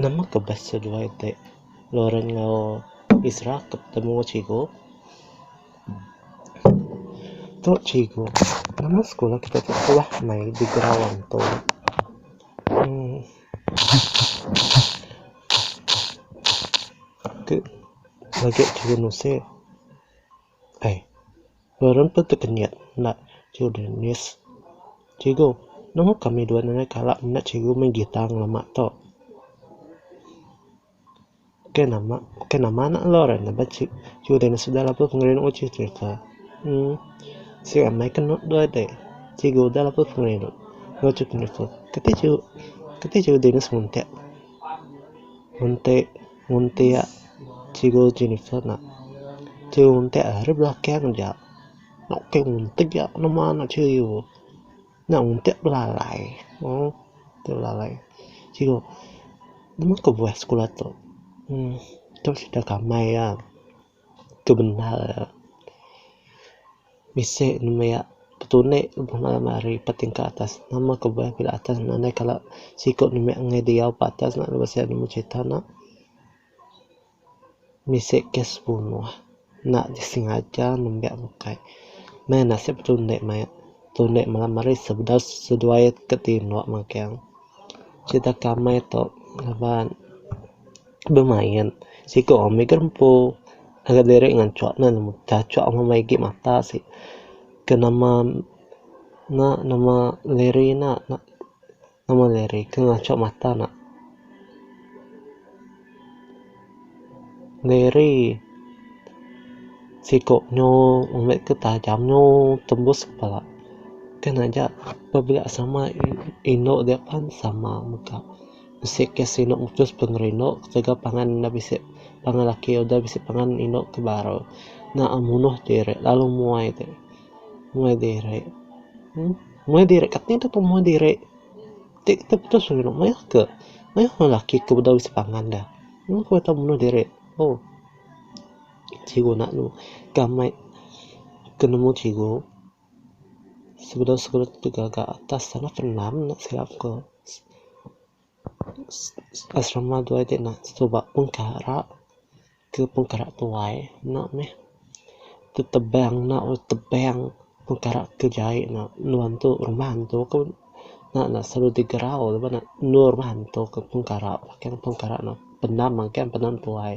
Nama ke best seduai ti Lauren enggau Isra ke betemu cikgu? Tu cikgu, nama sekula kita ti suah mei di ground tu. Ti legi cikgu Nusik. Ai. Beren pun tekenyit enda children miss cikgu. Nemu kami dua nadai kala menda cikgu main gitar ngelama tu. Ke nama ke nama anak endur ai ngaban ci children miss udah lalu pengerindu uji cherita. Emm sik amai ke enu dua dek. Cikgu udah lalu pengerindu. Keti cikgu keti cikgu dini semuntik muntik Nguntik cikgu Jennifer nak. Cikgu nguntik eh ari belakang aja. Nak ukai nguntik nya nama anak cikgu. Nya nguntik belalai. Ooh nguntik belalai. Cikgu, nama ke buah sekula tu? Uhh tu cerita kamai ya. Tu bendar. Bisi ne maya petune guna ne ari tingkat atas. Nama ku meh pida atas ngandai kala siku ne meh ngaih diau ba atas ne lalu sien meh crita ne bisi kes bunuh enda disengaja nembiak bukai. Meh nasip petune maya petune malam hari sebedau seduai ke tinu magang. Sida ke amai tu ngaban. bemain siko orang mih gerempu ngagai diri ngancok ne cacok meh main game ata sik ke nama na nama liri na nama liri ke ngacok mata na liri siko nyo ambek ke tajam nyo tembus kepala kan aja pebila sama indok diak pan sama mega. Bisi ke sinu mutus pengerindu ketegal udah pangan bisi pangan laki udah bisi pangan indu ke baru enda munuh diri lalu muai ti muai diri uhh muai diri kati dep deh muai diri ti kitai putus pengerindu mayuh ke mayuh ke laki ke udah bisi pangan dah mung ku ita munuh diri oh sigi guna gamai ke nemu cikgu. Sekeda sekeda tu gaga atas tanah enda tenam nya silap ku uhh asrama dua ti enda suba pun kara ke pun kara tuai enda meh tu tebang enda meh tebang pun kara ke jai enda nua tu rumah antu ku enda selalu digerau laban ne nua rumah antu ku pun kara pun kara enda tenam angken tenam tuai.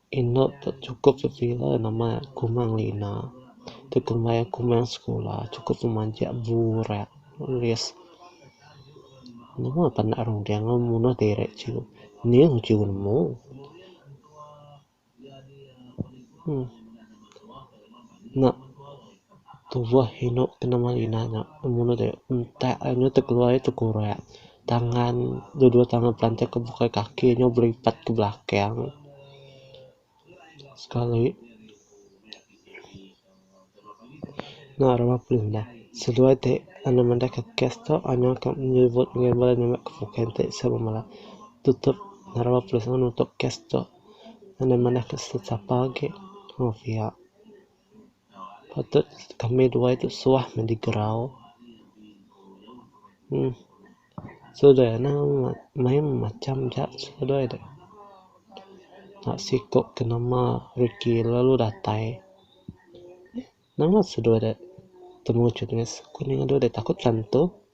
Inu tu chukup pepila nama kumang lina ti kumbai aku main sekula chukup ti majak burak alis nemu panu runding ngundah diri chu ning chu nemu uhh nya tubuh inu ti nama lina nya ngundah diri entek anu ti keluar nya ti kurak. Tangan, dua-dua tangan pelanting ke bukai kaki nyau belipat ke belakang sekali. Nya rama pengindah. Seduai ti anu mandai ke kes tu anu ke nyebut ngagai bala nya meh ke bukai enti seh bemala tutup ngena rama polis lalu nutup kes tu. Anu mandai ke setiap sapa agi. Mung pia. Patut kami dua tu suah mende gerau uhh sudah ena main macam ja sudah deh ena siko ke nama reti lalu datai nama sudah deh temu jenis aku nya deh takut chanto.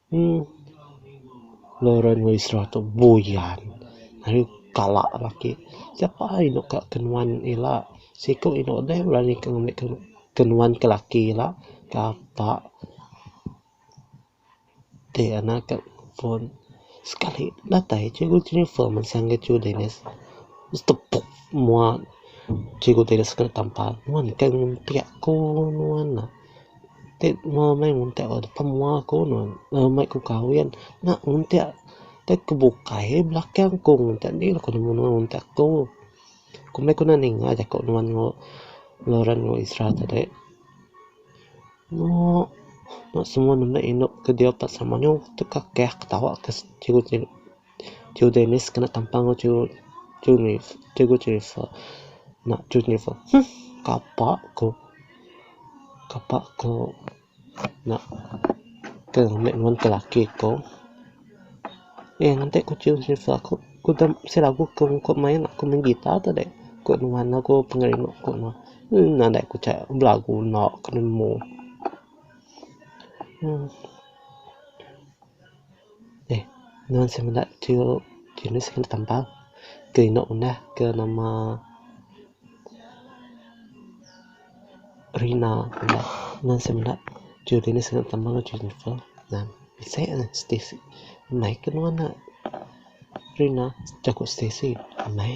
Uhh Lauren wei srah tu buyan ayu kala laki siapa inu ka ke nuan ila siku inu deh berani ke ngambi ke nuan ke laki ila kapa ti ana ka phone sekali datai cikgu jennifer meh sangge cikgu dennis meh tepuk mua cikgu dennis kena tampar nuan ke ngempiak ku nuan. Ti mua meh ngundah ku pemua ku nuh meh ku kahwin nya ngundah deh ku bukai belakang ku ngundah nih ku nuh ngundah ku ku meh ku ninga jaku nuan ku ngeran ku isra tadi nuh semua mene inu ke diau ka sama mayuh ka keyah ketawa ka siku siku. Chu Dennis kena tampa enggau chu chu Cikgu Jennifer. Nya chu Jennifer huh kapa ko kapa ko nak ke ngambi nuan ke laki ko. Eh nganti ku chu Jennifer aku ku dep bisi lagu ke ku main aku main guitar tu deh ku nuan lagu pengerindu ku nuan. Mmm nan deh ku cha belagu enda ke nemu. Mmm. Eii nuan semina tu jenis ke tampa ke eno ngundah ke nama Rina nuan semina tu jenis ke tampa ke Jennifer nah seh ne Stacey mei ke nuan ne Rina jaku Stacey mei.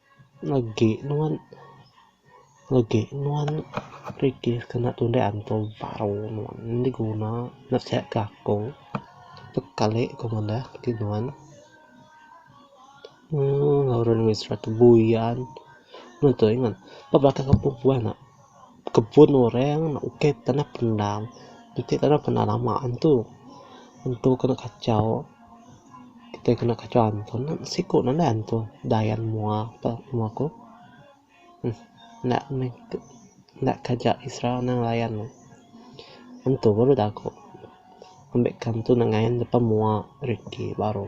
Agi nuan Agi nuan Reti kena tundah antum baru nuan enda guna nasehat ke aku tep kali ku ngundah ke nuan uhh ngau orang Malaysia tu buyan nuan tu ingat ba belakang kampung puan nya. kebun orang ukai tanah pendam enti tanah pendam lama antu antu kena kachau kitai kena kachau antu siku nanda antu dayan mua pa mua ku uhh enda meh enda kaja isra anang layan ne antu baru daku ambek ke antu enda ngayan depa mua reti baru.